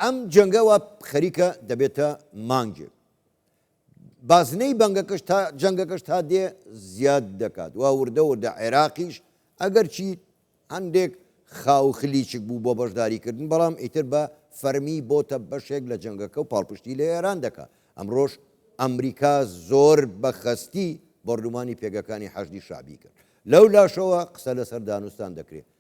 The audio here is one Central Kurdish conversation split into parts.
ئەم جەنگە وا خەریکە دەبێتە مانگێک. بازنەی بەنگەکەش تا جەنگەکەش تا دێ زیاد دەکات وا وردە وردە عێراقیش ئەگەرچی هەندێک خاو خلیچک بوو بۆ بەشداریکردن بەڵام ئیتر بە فەرمی بۆتە بەشێک لە جەنگەکە و پاڵپشتی لە ئێران دەکا ئەمڕۆژ ئەمریکا زۆر بە خەستی بۆردومانی پێگەکانی حەشدی شعبی کرد لەو لاشەوە قسە لەسەر دانوستان دەکرێت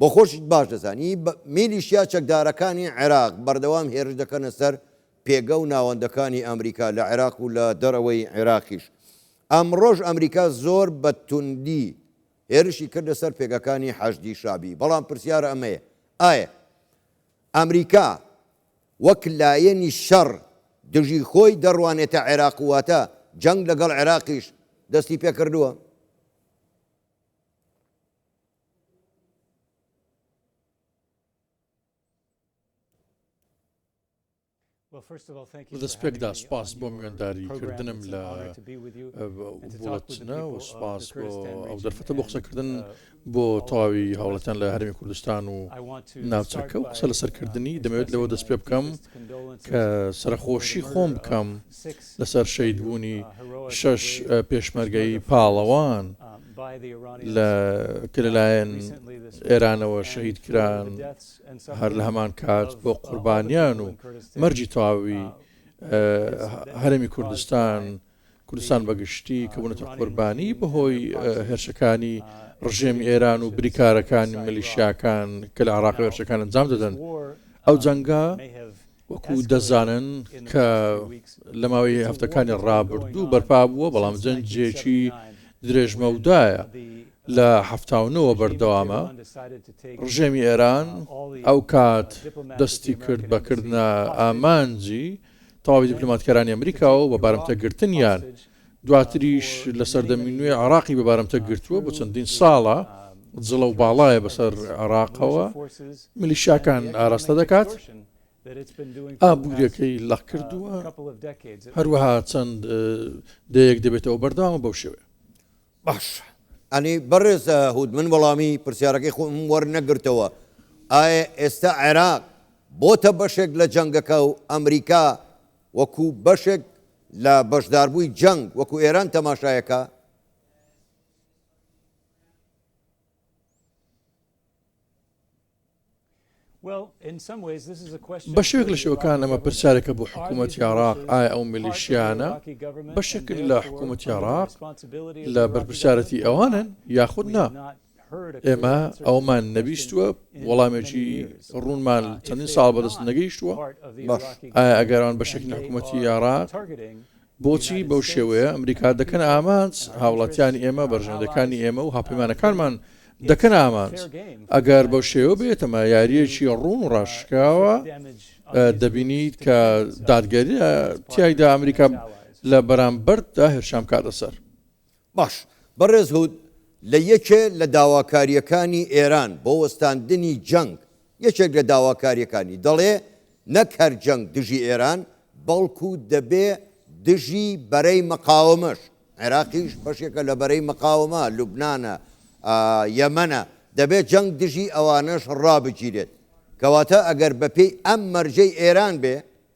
بۆ خۆشت باش دەزانی میلیشیا چەکدارەکانی عێراق بەردەوام هێرش دەکەنە سەر پێگە و ناوەندەکانی ئەمریکا لە عێراق و لە دەرەوەی عێراقیش. ئەمڕۆش ئەمریکا زۆر بە توندی هێرشی کردە سەر پێگەکانی حەشدی شەعبی. بەڵام پرسیار ئەمەیە ئایا ئەمریکا وەک لایەنی شەڕ دژی خۆی دەڕوانێتە عێراق واتە جەنگ لەگەڵ عێراقیش دەستی پێکردووە؟ لەدەستپێکدا سوپاس بۆ میوانداری کردنم لە بوڵەتنە و سوپاس بۆ ئەو دەرفەتە بۆ قسەکردن بۆ تەواوی هاوڵەتیان لە هەرمی کوردستان و ناوچەکە و قسە لەسەرکردنی دەمەوێت لەوە دەست پێ بکەم کە سەرخۆشی خۆم بکەم لەسەر شەید بوونی شەش پێشمەرگایی پاڵەوان. لە کە لەلایەن ئێرانەوە شەهید کران هەر لە هەمان کات بۆ قوربانیان و مەرجی تەواوی هەرمی کوردستان کوردستان بەگشتی کە بوونەتە قوربانی بەهۆی هێرشەکانی ڕژێمی ئێران و بریکارەکانی ملیشیاکان کە لە عراقی هێرشەکان ئەنجام دەدەن ئەو جەنگە وەکو دەزانن کە لە ماوەی هەفتەکانی ڕابردوو بەرپابووە، بەڵام جەنجێکی درێژمەودایە لە حەفتا و نۆ وە بەردەوامە. ڕژێمی ئێران ئەو کات دەستی کرد بە کردنە ئامانجی تەواوی دیپلۆماتکارانی ئەمریکا و بە بارمتە گرتنیان دواتریش لە سەردەمی نوێ عێراقی بە بارمتە گرتووە، بۆ چەندین ساڵە جڵە و باڵایە بەسەر عێراقەوە میلیشیاکان ئاراستە دەکات، ئابوورییەکەی لەق کردووە، هەروەها چەند دەیەیەک دەبێتەوە بەردەوامە بەو شێوەیە. باشە ئەنی بەڕێز هود من وەڵامی پرسیارەکەی خۆم وەرنەگرتەوە، ئایا ئێستا عێراق بۆتە بەشێک لە جەنگەکە و ئەمریکا وەکو بەشێک لە بەشداربووی جەنگ وەکو ئێران تەماشایەکا، بەشێک لە شێوەکان ئەمە پرسیارێکە بۆ حکوومەتی عێراق ئایا ئەو میلیشیانە بەشێکن لە حکوومەتی عێراق لە بەرپرسیارەتی ئەوانن یاخود نا؟ ئێمە ئەومان نەبیستووە وەڵامێکی ڕوونمان چەندین ساڵ بەدەست نەگەیشتووە باش ئایا ئەگەران بە شکن حکوومەتی یاڕا بۆچی بەو شێوەیە ئەمریکا دەکەن ئامانج هاوڵاتیانی ئێمە بەرژەندەکانی ئێمە و هاپەیمانەکانمان دەکەن ئامانج ئەگەر بەو شێوە بێتەمە یاریەکی ڕوون و ڕاشکاوە دەبینیت کە دادگەری تایدا ئەمریکا لە بەرامبەردا هەرشام کاتە سەر باش، بەڕێز هود لە یەکێ لە داواکارییەکانی ئێران بۆ وەستاندنی جەنگ، یەکێک لە داواکارییەکانی، دەڵێ نەک هەر جەنگ دژی ئێران، بەڵکو دەبێ دژی بەرەی مقاومەش، عێراقیش بەشێکە لە بەرەی مقاومە، لوبنانە، یەمەنە، دەبێ جەنگ دژی ئەوانەش ڕابگیرێت. کەواتە ئەگەر بەپێی ئەم مەرجەی ئێران بێ،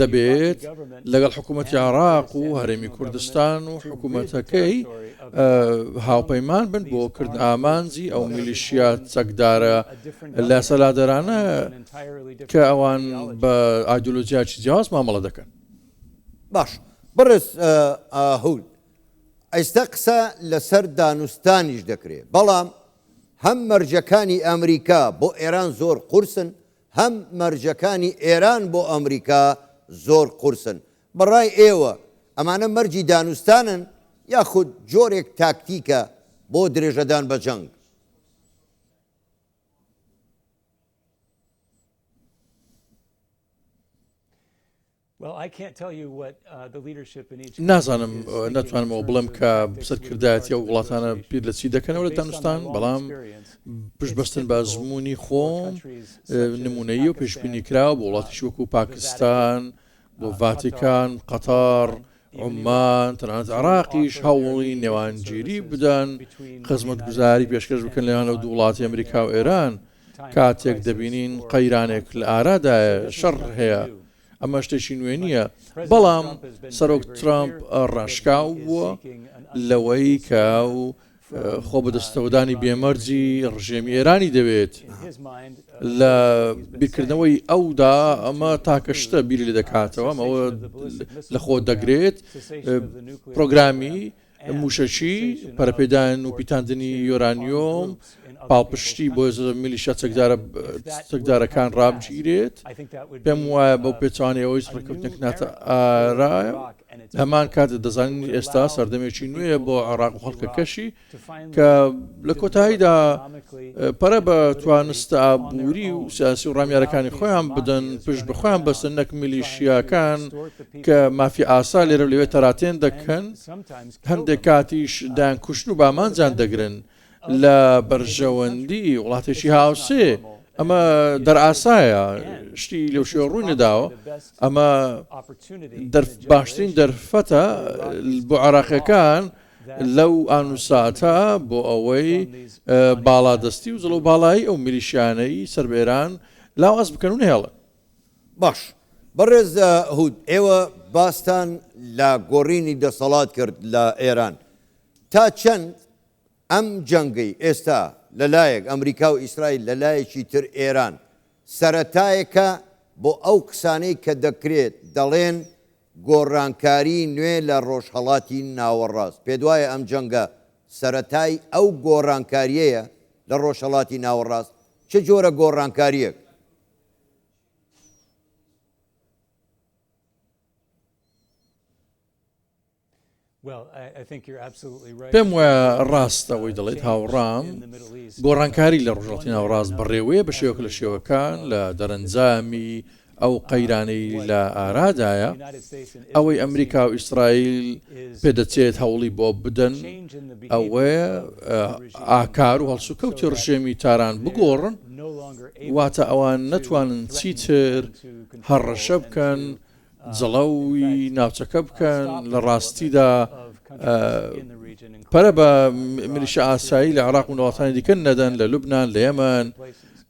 دەبێت لەگەڵ حکوومەتی عێراق و هەرێمی کوردستان و حکوومەتەکەی هاوپەیمان بن بۆ کردن ئامانجی ئەو میلیشیا چەکدارە لە سەلادەرانە کە ئەوان بە ئایدۆلۆژیاچی جیاواز مامەڵە دەکەن باش بڕێز هەول ئێستا قسە لەسەر دانوستانیش دەکرێت بەڵام هەم مەرجەکانی ئەمریکا بۆ ئێران زۆر قورسن هەم مەرجەکانی ئێران بۆ ئەمریکا زۆر قورسن. بە ڕای ئێوە ئەمانە مەرجی دانوستانن یاخود جۆرێک تاکتیکە بۆ درێژەدان بە جەنگ؟ نازانم ناتوانمەوە بڵێم کە سەرکردایەتی ئەو وڵاتانە بیر لە چی دەکەنەوە لە دانوستان، بەڵام پشت بەستن بە ئەزموونی خۆم نموونەیی و پێشبینی کراوە بۆ وڵاتیش وەکو پاکستان، بۆ ڤاتیکان، قەتەڕ، عوممان، تەنانەت عێراقیش هەوڵی نێوانگیری بدەن، خزمەتگوزاری پێشکەش بکەن لە نێوان ئەو دوو وڵاتی ئەمریکا و ئێران، کاتێک دەبینین قەیرانێک لە ئارادایە، شەڕ هەیە، ئەمە شتێکی نوێ نییە، بەڵام سەرۆک ترامپ ڕاشکاو بووە لەوەی کە و خۆ بەدەستەوەدانی بێمەرجی ڕژێمی ئێرانی دەوێت لە بیرکردنەوەی ئەودا ئەمە تاکە شتە بیری لە دەکاتەوە ئەوە لەخۆ دەگرێت پرۆگرامی مووشەکی، پەرەپێدان و پیتاندنی یۆرانیۆم، پاڵپشتی بۆ میلیشیا چەکدارەکان ڕابگیرێت، پێم وایە بەو پێچەوانەی ئەوەی ڕێککەوتنێک ناتە ئارایە، هەمان کات دەزانین ئێستا سەردەمێکی نوێیە بۆ عێراق و خەڵکەکەشی، کە لە کۆتاییدا پەرە بە توانستە ئابووری و سیاسی و ڕامیارەکانی خۆیان بدەن، پشت بە خۆیان بەستن، نەک میلیشیاکان کە مافی ئاسا لێرەو لەوێ تەراتێن دەکەن، هەندێک کاتیش دەیانکوشن و بامانجیان دەگرن لە بەرژەوەندی وڵاتێکی هاوسێ، ئەمە دەرئاسایە، شتی لەو شێوە ڕووی نەداوە، ئەمە باشترین دەرفەتە بۆ عێراقیەکان لەو ئان و ساتە بۆ ئەوەی باڵادەستی و زڵەو باڵایی ئەو میلیشیانەی سەر بە ئێران لاواز بکەن و نەهێڵن. باش بەڕێز هود ئێوە باستان لە گۆڕینی دەسەڵات کرد لە ئێران تا چەند ئەم جەنگەی ئێستا لە لایەک ئەمریکا و ئیسرائیل لە لایەکی تر ئێران سەرەتایەکە بۆ ئەو قسانەی کە دەکرێت دەڵێن گۆڕانکاری نوێ لە ڕۆژهەڵاتی ناوەڕاست پێت وایە ئەم جەنگە سەرەتای ئەو گۆڕانکاریەیە لە ڕۆژهەڵاتی ناوەڕاست چ جۆرە گۆڕانکاریەک پێم وایە ڕاستە ئەوەی دەڵێت هاوڕام گۆڕانکاری لە ڕژڵاتی ناوڕاست بەڕێوەیە بە شێوەک لە شێوەکان لە دەرەنجامی ئەو قەیرانەی لە ئارادایە ئەوەی ئەمریکا و ئیسرائیل پێدەچێت هەوڵی بۆ بدەن ئەوەیە ئاکار و هەڵسوکەوتی ڕژێمی تاران بگۆڕن و واتە ئەوان نەتوانن چیتر هەڕەشە بکەن جڵەوی ناوچەکە بکەن لە ڕاستیدا پەرە بە ملیشە ئاسایی لە عراق و وڵاتانی دیکە نەدەن لە لوبناان لە یەمەن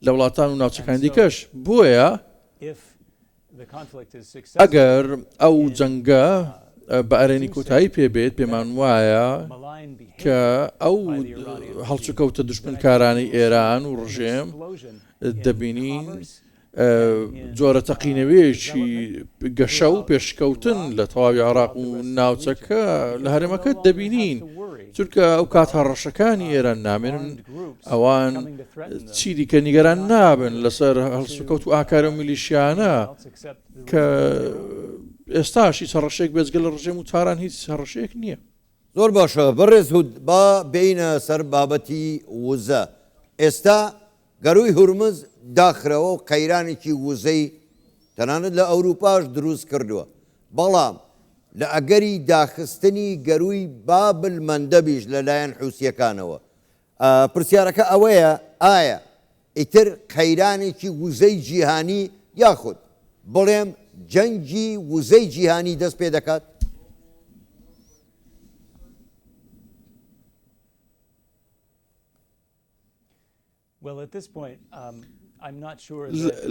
لە وڵاتان و ناوچەکان دیکەش بۆیە ئەگەر ئەو جەنگە بە ئەرێنی کۆتایی پێ بێت پێمان وایە کە ئەو هەڵچوکەوتە دشمنکارانی ئێران و ڕژێم دەبینین جۆرە تەقینەوەیەکی گەشە و پێشکەوتن لە تەواوی عراق و ناوچەکە لە هەرێمەکە دەبینین چونکە ئەو کات هەڕەشەکانی ئێران نامێنن ئەوان چی دیکە نیگەران نابن لەسەر هەڵسوکەوت و ئاکارە میلیشیانە کە ئێستاشی سەڕەشێک بێزگە لە ڕژێم و تاران هیچ هەڕەشێک نییە زۆر باشە بەڕێز هود با بینە سەر بابەتی وزە ئێستا گەرووی هورمز داخراوە و قەیرانێکی وزەی تەنانەت لە ئەوروپاش دروست کردووە، بەڵام لە ئەگەری داخستنی گەرووی باب المندەبیش لەلایەن حوسییەکانەوە، پرسیارەکە ئەوەیە ئایا ئیتر قەیرانێکی وزەی جیهانی یاخود بڵێم جەنگی وزەی جیهانی دەست پێ دەکات؟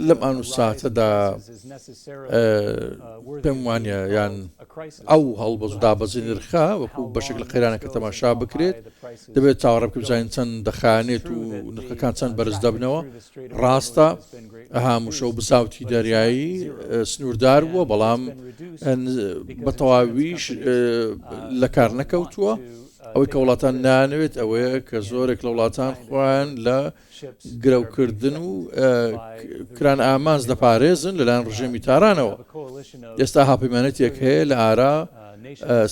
لەم ئان و ساتەدا پێم وانە یان ئەو هەڵبەست دابەزی نرخە وەکو بەشێک لە قەیرانەکە تەماشا بکرێت دەبێت چاوەڕێ بزانین چەند دەخانێت و نرخەکان چەند بەرز دەبنەوە ڕاستە هاموشە و بساوتی دەریایی سنووردار بووە بەڵام بە تەواویش لە کار نەکەوتووە. ئەوەی کە وڵاتان نایانەوێت ئەوەیە کە زۆرێک لە وڵاتان خۆیان لە گرەوکردن و کران ئامانج دەپارێزن لەلایەن ڕژێمی تارانەوە ئێستا هاپەیمانەتێک هەیە لە ئارا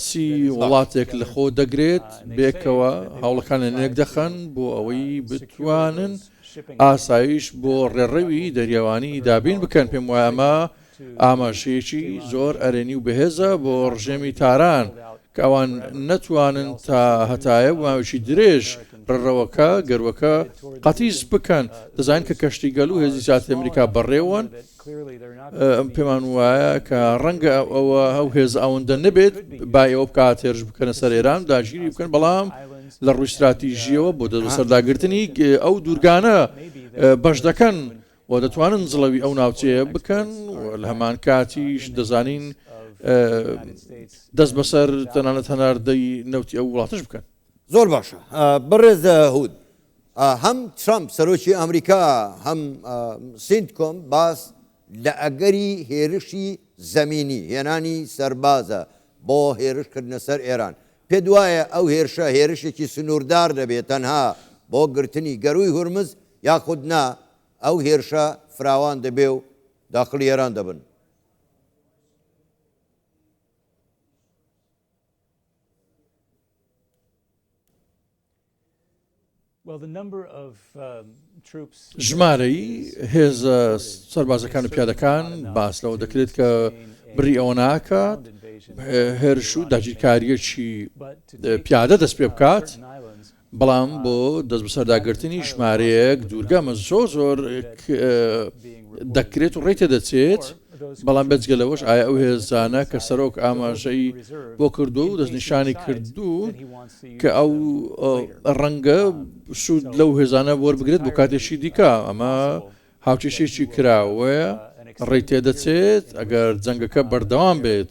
سی وڵاتێک لە خۆ دەگرێت بێکەوە هەوڵەکان لە نێک دەخەن بۆ ئەوەی بتوانن ئاسایش بۆ ڕێڕەوی دەریاوانی دابین بکەن پێم وایە ئەمە ئاماژەیەکی زۆر ئەرێنی و بەهێزە بۆ ڕژێمی تاران کە ئەوان نەتوانن تا هەتایە بۆ ماوەیەکی درێژ ڕڕەوەکە، گەروەکە، قەتیس بکەن. دەزانین کە کەشتی گەل و هێزی زیاتری ئەمریکا بەڕێوەن. پێمان وایە کە ڕەنگە ئەوە ئەو هێزە ئەوەندە نەبێت با ئێوە بکات هێرش بکەنە سەر ئێران و داگیری بکەن، بەڵام لە ڕووی ستراتیژییەوە بۆ دەستبەسەرداگرتنی ئەو دوورگانە بەش دەکەن. و دەتوانن جڵەوی ئەو ناوچەیە بکەن و لە هەمانکاتیش دەزانین دەست بەسەر تەنانەت هەناردەی نەوتی ئەو وڵاتەش بکەن. زۆر باشە بەڕێز هود. هەم ترەمپ سەرۆکی ئەمریکا هەم سینتکۆم باس لە ئەگەری هێرشی زەمینی، هێنانی سەربازە بۆ هێرشکردنە سەر ئێران، پێت وایە ئەو هێرشە هێرشێکی سنووردار دەبێت تەنها بۆ گرتنی گەرووی هورمز یاخود نا ئەو هێرشە فراوان دەبێ و داخڵی ئێران دەبن؟ ژمارەی هێزە سەربازەکان و پیادەکان باس لەوە دەکرێت کە بڕی ئەوە ناکات هێرش و داگیرکاریەکی پیادە دەست پێ بکات بەڵام بۆ دەست بەسەرداگرتنی ژمارەیەک دوورگەمە زۆر زۆر دەکرێت و ڕێتە دەچێت بەڵام بێجگە لەوەش ئایا ئەو هێزانە کە سەرۆک ئاماژەی بۆ کردووە و دەستنیشانی کردوون کە ئەو ڕەنگە سوود لەو هێزانە وەربگرێت بۆ کاتێکی دیکە ئەمە هاوکێشێکی کراوەیە ڕێی تێدەچێت ئەگەر جەنگەکە بەردەوام بێت